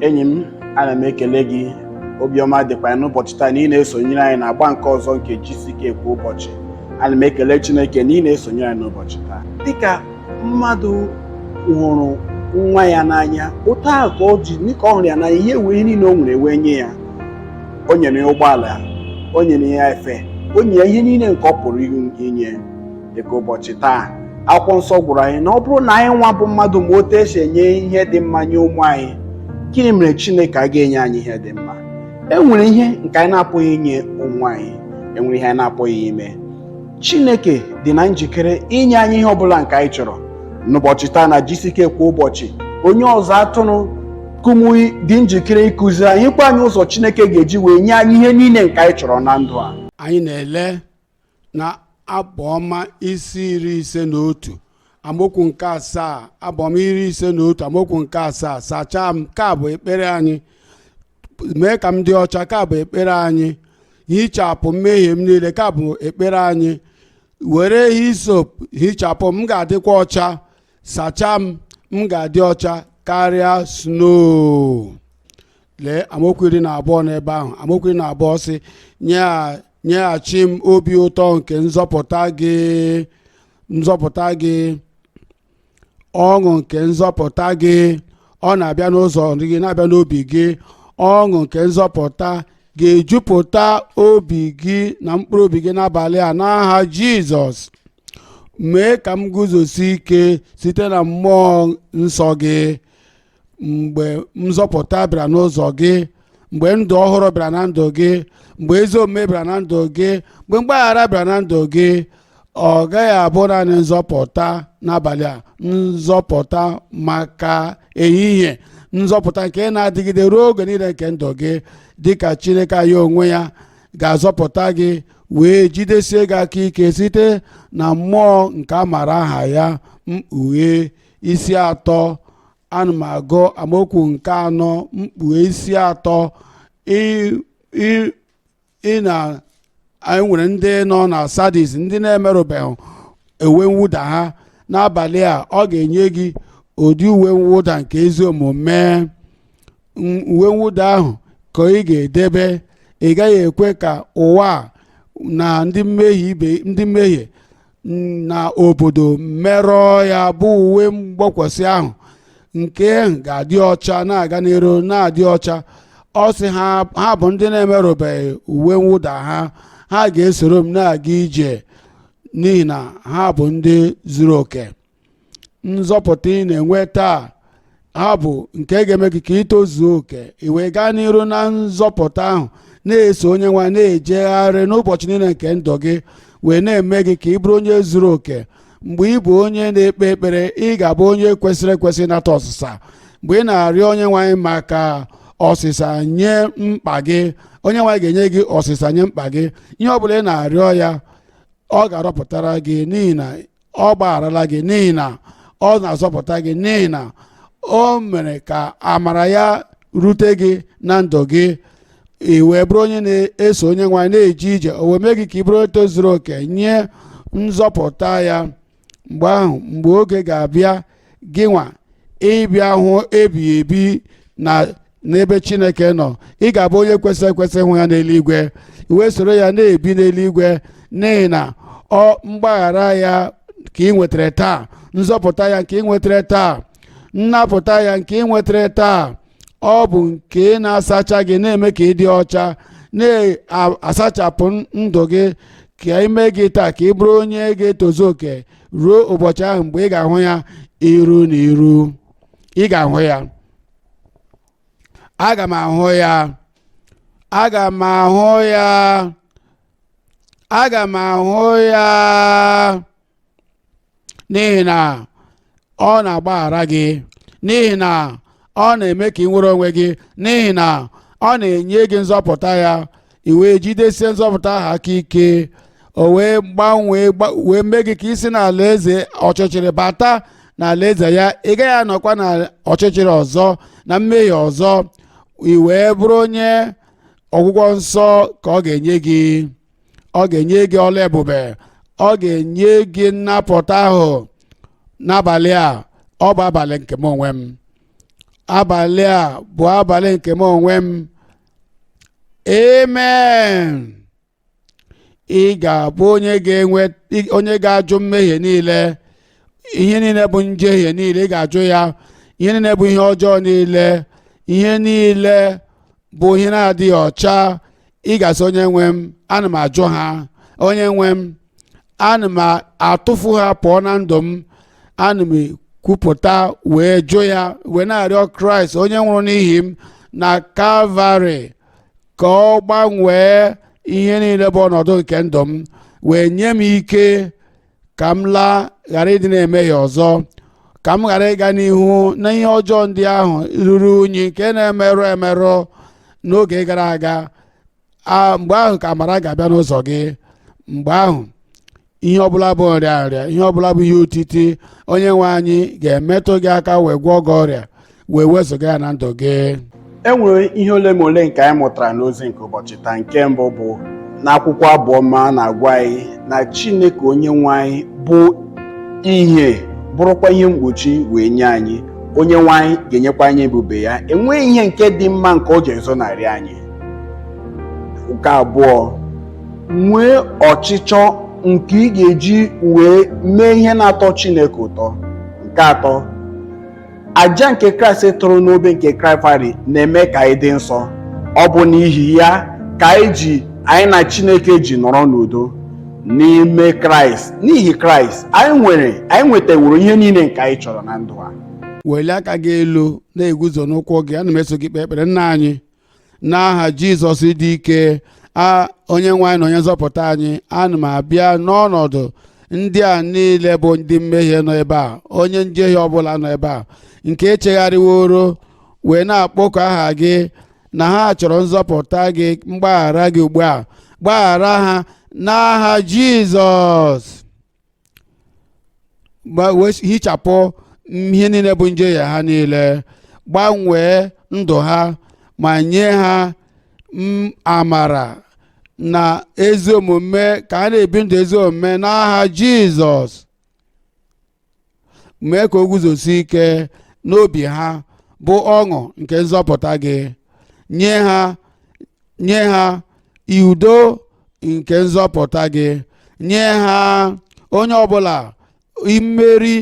enyi m ana m ekele gị obiọma dịkwa ya n'ụbọchị taa na ị na-esonyere anyị na agba nke ọzọ nke GCK kwa ụbọchị ana m ekele Chineke na ị na-esonyere anyị n'ụbọchị taa dịka mmadụ hụrụ nwa ya n'anya otu ahụ ka ọ ji dịka ọ hụrụ ya n'anya wee ihe niile o nwere wee nye ya o nyere ya ụgbọala o nyere ya efe o nyere ya ihe niile nke ọ pụrụ inye dịka ụbọchị taa akwụkwọ nsọ gwara anyị na ọ bụrụ na anyị nwa bụ mmadụ ma otu esi enye ihe dị mma nye ụmụ anyị gịnị mere chineke agaghị enye anyị ihe dị mma e nwere ihe nke anyị na-apụghị inye ụmụ anyị enwere ihe anyị na-apụghị ime chineke dị na njikere inye anyị ihe ọbụla nke anyị chọrọ n'ụbọchị taa na GCK kwa ụbọchị onye ọzụzụ atụrụ Kumuyi dị njikere ịkụziri anyị gwa anyị ụzọ chineke ga-eji wee nye anyị ihe niile nke anyị chọrọ na ndụ a anyị na-ele na abụọma isi iri ise na otu amaokwu nke asaa abụọma iri ise na otu amaokwu nke asaa sachaa m nke a bụ ekpere anyị mee ka m dị ọcha nke a bụ ekpere anyị hichapụ mmehie m niile nke a bụ ekpere anyị were hisop hichapụ m m ga-adịkwa ọcha sachaa m m ga-adị ọcha karịa snow lee amaokwu iri na abụọ n'ebe ahụ amaokwu iri na abụọ sị nyeghachi m obi ụtọ nke nzọpụta gị ọṅụ nke nzọpụta gị ọ na-abịa n'ụzọ gị na-abịa n'obi gị ọṅụ nke nzọpụta ga-ejupụta obi gị na mkpụrụ obi gị n'abalị a n'aha jizọs mee ka m guzosi ike site na mmụọ nsọ gị mgbe nzọpụta bịara n'ụzọ gị mgbe ndụ ọhụrụ bịara na ndụ gị mgbe ezi omume bịara na ndụ gị mgbe mgbaghara bịara na ndụ gị ọ gaghị abụ naanị nzọpụta n'abalị a nzọpụta maka ehihie nzọpụta nke na-adịgide ruo oge niile nke ndụ gị dịka chineke anyị onwe ya ga-azọpụta gị wee jidesie gị aka ike site na mmụọ nke amara aha ya mkpughe isi atọ ana m agụ amaokwu nke anọ mkpughe isi atọ ị- ị- ị na anyị nwere ndị nọ na sadis ndị na-emerụbeghị uwe mwụda ha n'abalị a ọ ga-enye gị ụdị uwe mwụda nke ezi omume m- uwe mwụda ahụ ka ị ga-edebe ị gaghị ekwe ka ụwa a na ndị mmehie ibe ndị mmehie na obodo merụọ ya bụ uwe mgbokwasị ahụ nke ga-adị ọcha na-aga n'iru na-adị ọcha ọ sị ha bụ ndị na-emerụbeghị uwe mwụda ha ha ga-esoro m na-aga ije n'ihi na ha bụ ndị zuru oke nzọpụta ị na-enweta ahụ bụ nke ga-eme gị ka i tozuo oke i wee gaa n'iru na nzọpụta ahụ na-eso onye nwe anyị na-ejegharị n'ụbọchị niile nke ndụ gị wee na-eme gị ka ị bụrụ onye zuru oke mgbe ị bụ onye na-ekpe ekpere ị ga-abụ onye kwesịrị ekwesị nata ọsịsa mgbe ị na-arịọ onye nwe anyị maka ọsịsa nye mkpa gị onye nwe anyị ga-enye gị ọsịsa nye mkpa gị ihe ọ bụla ị na-arịọ ya ọ ga-arọpụtara gị n'ihi na ọ gbagharala gị n'ihi na ọ na-azọpụta gị n'ihi na o mere ka amara ya rute gị na ndụ gị i wee bụrụ onye na-eso onye nwe anyị na-eje ije o wee mee gị ka ị bụrụ onye tozuru oke nye nzọpụta ya mgbe ahụ mgbe oge ga-abịa gị nwa ịbịa hụ ebighị ebi na n'ebe chineke nọ ị ga-abụ onye kwesịrị ekwesị hụ ya n'eluigwe i wee soro ya na-ebi n'eluigwe n'ihi na mgbaghara ya ka ị nwetara taa nzọpụta ya nke ị nwetara taa nnapụta ya nke ị nwetara taa ọ bụ nke na-asacha gị na-eme ka ị dị ọcha na-asachapụ ndụ gị ka ime gị taa ka ị bụrụ onye ga-etozu oke ruo ụbọchị ahụ mgbe ị ga-ahụ ya iru na iru ị ga-ahụ ya aga m ahụ ya aga m ahụ ya aga m ahụ ya n'ihi na ọ na-agbaghara gị n'ihi na ọ na-eme ka ị nwere onwe gị n'ihi na ọ na-enye gị nzọpụta ya i wee jidesie nzọpụta ahụ aka ike o wee gbanwee gba- wee mee gị ka i si n'alaeze ọchịchịrị bata n'alaeze ya ị gaghị anọkwa na ọchịchịrị ọzọ na mmehie ọzọ i wee bụrụ onye ọgwụgwọ nsọ ka ọ ga-enye gị ọ ga-enye gị ọlụ ebube ọ ga-enye gị nnapụta ahụ n'abalị a ọ bụ abalị nke m onwe m abalị a bụ abalị nke m onwe m amen ị ga-abụ onye ga-enwe onye ga-ajụ mmehie niile ihe niile bụ njehie niile ị ga-ajụ ya ihe niile bụ ihe ọjọọ niile ihe niile bụ ihe na-adịghị ọcha ị ga-asị onye nwe m ana m ajụ ha onye nwe m ana m atụfu ha pụọ na ndụ m ana m ekwupụta wee jụ ya wee na-arịọ kraịst onye nwụrụ n'ihi m na kalvarị ka ọ gbanwee ihe niile bụ ọnọdụ nke ndụ m wee nye m ike ka m laa ghara ịdị na-emehie ọzọ ka m ghara ịga n'ihu na ihe ọjọọ ndị ahụ ruru unyi nke na-emerụ emerụ n'oge gara aga a mgbe ahụ ka amara ga-abịa n'ụzọ gị mgbe ahụ ihe ọbụla bụ nrịanrịa ihe ọbụla bụ ihe otiti onye nwe anyị ga-emetụ gị aka wee gwọọ gị ọrịa wee wezụga ya na ndụ gị e nwere ihe ole ma ole nke anyị mụtara n'ozi nke ụbọchị taa nke mbụ bụ n'akwụkwọ abụ ọma na-agwa anyị na chineke onye nwe anyị bụ ihe bụrụkwa ihe mgbochi wee nye anyị onye nwe anyị ga-enyekwa anyị ebube ya enweghị ihe nke dị mma nke ọ ga-ezonarị anyị nke abụọ nwee ọchịchọ nke ị ga-eji wee mee ihe na-atọ Chineke ụtọ nke atọ aja nke Kraịst tụrụ n'obe nke Kalvarị na-eme ka anyị dị nsọ ọ bụ n'ihi ya ka anyị ji anyị na Chineke ji nọrọ n'udo n'ime Kraịst n'ihi Kraịst anyị nwere anyị nwetaworo ihe niile nke anyị chọrọ na ndụ a welie aka gị elu na-eguzo n'ụkwụ gị ana m eso gị ekpe ekpere nna anyị n'aha jizọs dị ike a onye nwe anyị na onye nzọpụta anyị ana m abịa n'ọnọdụ ndị a niile bụ ndị mmehie nọ ebe a onye njehie ọbụla nọ ebe a nke echegharịworo wee na-akpọku aha gị na ha chọrọ nzọpụta gị mgbaghara gị ugbu a gbaghara ha n'aha jizọs gba- wee hichapụ ihe niile bụ njehie ha niile gbanwee ndụ ha ma nye ha m- amara na ezi omume ka ha na-ebi ndụ ezi omume n'aha jizọs mee ka o guzosi ike n'obi ha bụ ọṅụ nke nzọpụta gị nye ha nye ha udo nke nzọpụta gị nye ha onye ọbụla mmeri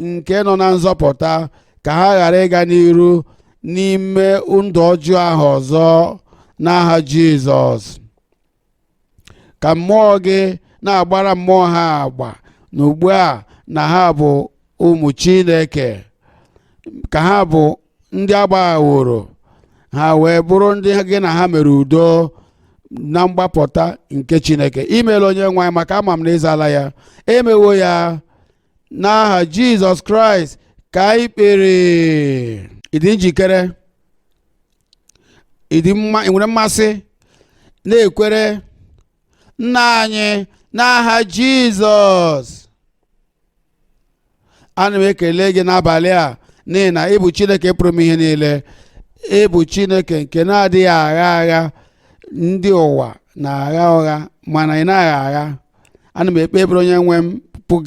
nke nọ na nzọpụta ka ha ghara ịga n'iru n'ime ndụ ọjọọ ahụ ọzọ n'aha Jizọs ka mmụọ gị na-agbara mmụọ ha agba na ugbu a na ha bụ ụmụ chineke ka ha bụ ndị agbaghaworo ha wee bụrụ ndị gị na ha mere udo na mgbapụta nke chineke imeela onye nwe anyị maka ama m na ịzala ya emewo ya n'aha jizọs kraịst ka anyị kpere ị dị njikere ị dị ị nwere mmasị na-ekwere nna anyị n'aha jizọs ana m ekele gị n'abalị a n'ihi na ị bụ chineke pụrụ ime ihe niile ị bụ chineke nke na-adịghị agha agha ndị ụwa na-agha ụgha mana ị naghị agha ana m ekpe ekpere onye nwe m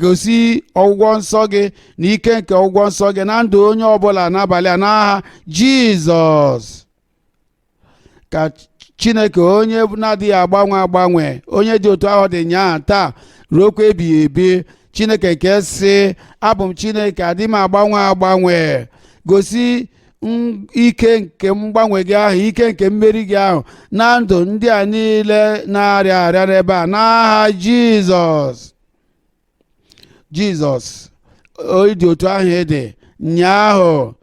gosi ọgwụgwọ nsọ gị na ike nke ọgwụgwọ nsọ gị na ndụ onye ọbụla n'abalị a n'aha jizọs ka chineke onye na-adịghị agbanwe agbanwe onye dị otu ahụ dị nyaa taa ruokwa ebighị ebi chineke nke sị abụ m chineke adịghị m agbanwe agbanwe gosi ike nke mgbanwe gị ahụ ike nke mmeri gị ahụ na ndụ ndị a niile na-arịa arịa n'ebe a n'aha jizọs jizọs ị dị otu ahụ ị dị nyaahụ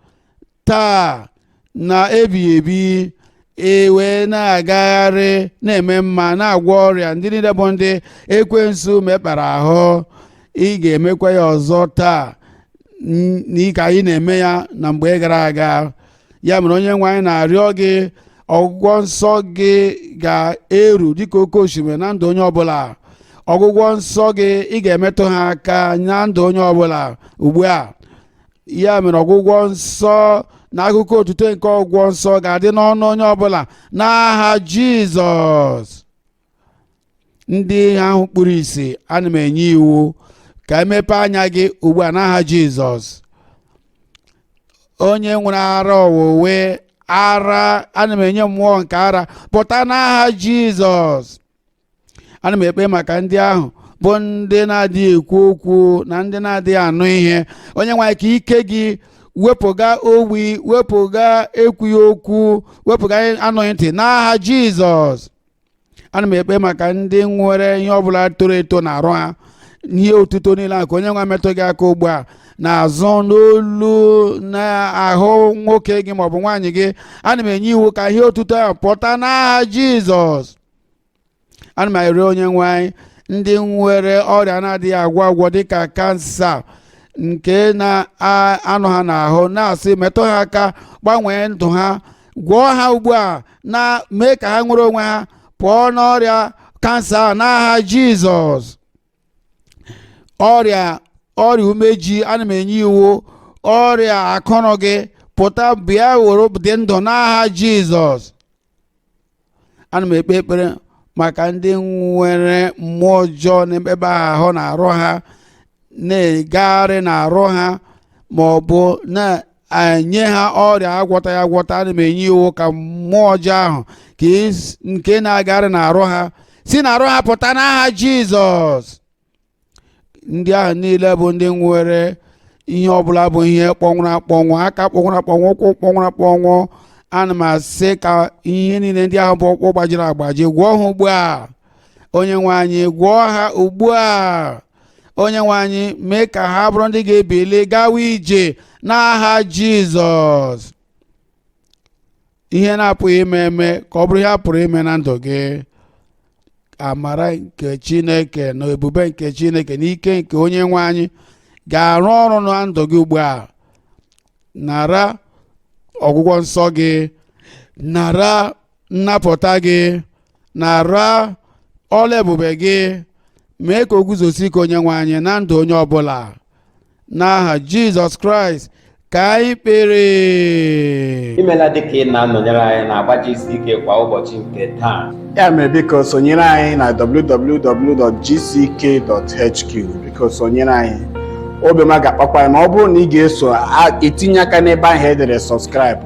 taa na ebighị ebi e wee na-agagharị na-eme mma na-agwọ ọrịa ndị niile bụ ndị ekwensu mekpara ahụ ị ga-emekwa ya ọzọ taa n- n'ike anyị na-eme ya na mgbe gara aga ya mere onye nwe anyị na-arịọ gị ọgwụgwọ nsọ gị ga-eru dịka oke osimiri na ndụ onye ọbụla ọgwụgwọ nsọ gị ị ga-emetụ ha aka na ndụ onye ọbụla ugbu a ya mere ọgwụgwọ nsọ na akụkọ otuto nke ọgwụgwọ nsọ ga-adị n'ọnụ onye ọbụla n'aha jizọs ndị ahụ kpuru isi ana m enye iwu ka emepe anya gị ugbu a n'aha jizọs onye nwere ara ọwụwe ara ana m enye mmụọ nke ara pụta n'aha jizọs ana m ekpe maka ndị ahụ bụ ndị na-adịghị ekwu okwu na ndị na-adịghị anụ ihe onye nwe anyị ka ike gị wepụga ogbi wepụga ekwughị okwu wepụga anụghị ntị n'aha jizọs ana m ekpe maka ndị nwere ihe ọbụla toro eto n'arụ ha ihe otuto niile a ka onye nwe m metụ gị aka ugbu a n'azụ n'olu n'ahụ nwoke gị maọbụ nwaanyị gị ana m enye iwu ka ihe otuto ahụ pụta n'aha jizọs ana m arịọ onye nwe anyị ndị nwere ọrịa a na-adịghị agwọ agwọ dịka kansa nke na-anọ ha n'ahụ na-asị metụ ha aka gbanwee ndụ ha gwọọ ha ugbu a na mee ka ha nwere onwe ha pụọ n'ọrịa kansa a n'aha jizọs ọrịa ọrịa umeji ana m enye iwu ọrịa akụrụ gị pụta bịa were dị ndụ n'aha jizọs ana m ekpe ekpere maka ndị nwere mmụọ ọjọọ n'ebe ahụ n'arụ ha na-egagharị n'arụ ha ma ọ bụ na-enye ha ọrịa agwọtaghị agwọta ana m enye iwu ka mmụọ ọjọọ ahụ nke na-agagharị n'arụ ha si n'arụ ha pụta n'aha Jizọs ndị ahụ niile bụ ndị nwere ihe ọbụla bụ ihe kpọnwụrụ akpọnwụ aka kpọnwụrụ akpọnwụ ụkwụ kpọnwụrụ akpọnwụ ana m asị ka ihe niile ndị ahụ bụ ọkpụ gbajiri agbaji gwọọ ha ugbu a onye nwe anyị gwọọ ha ugbu a onye nwe anyị mee ka ha bụrụ ndị ga-ebili gawa ije n'aha jizọs ihe na-apụghị ime eme ka ọ bụrụ ihe a pụrụ ime na ndụ gị amara nke chineke na ebube nke chineke na ike nke onye nwe anyị ga-arụ ọrụ na ndụ gị ugbu a nara ọgwụgwọ nsọ gị nara nnapụta gị nara ọlụ ebube gị mee ka o guzosie ike onye nwe anyị na ndụ onye ọbụla n'aha jizọs kraịst ka anyị kpere imela dịka ị na-anọnyere anyị n'agba gck kwa ụbọchị nke taa ya mere biko sonyere anyị na www.gck.hq biko sonyere anyị obi ọma ga-akpakwa anyị ma ọ bụrụ na ị ga-eso etinye aka n'ebe ahụ e dere subscribe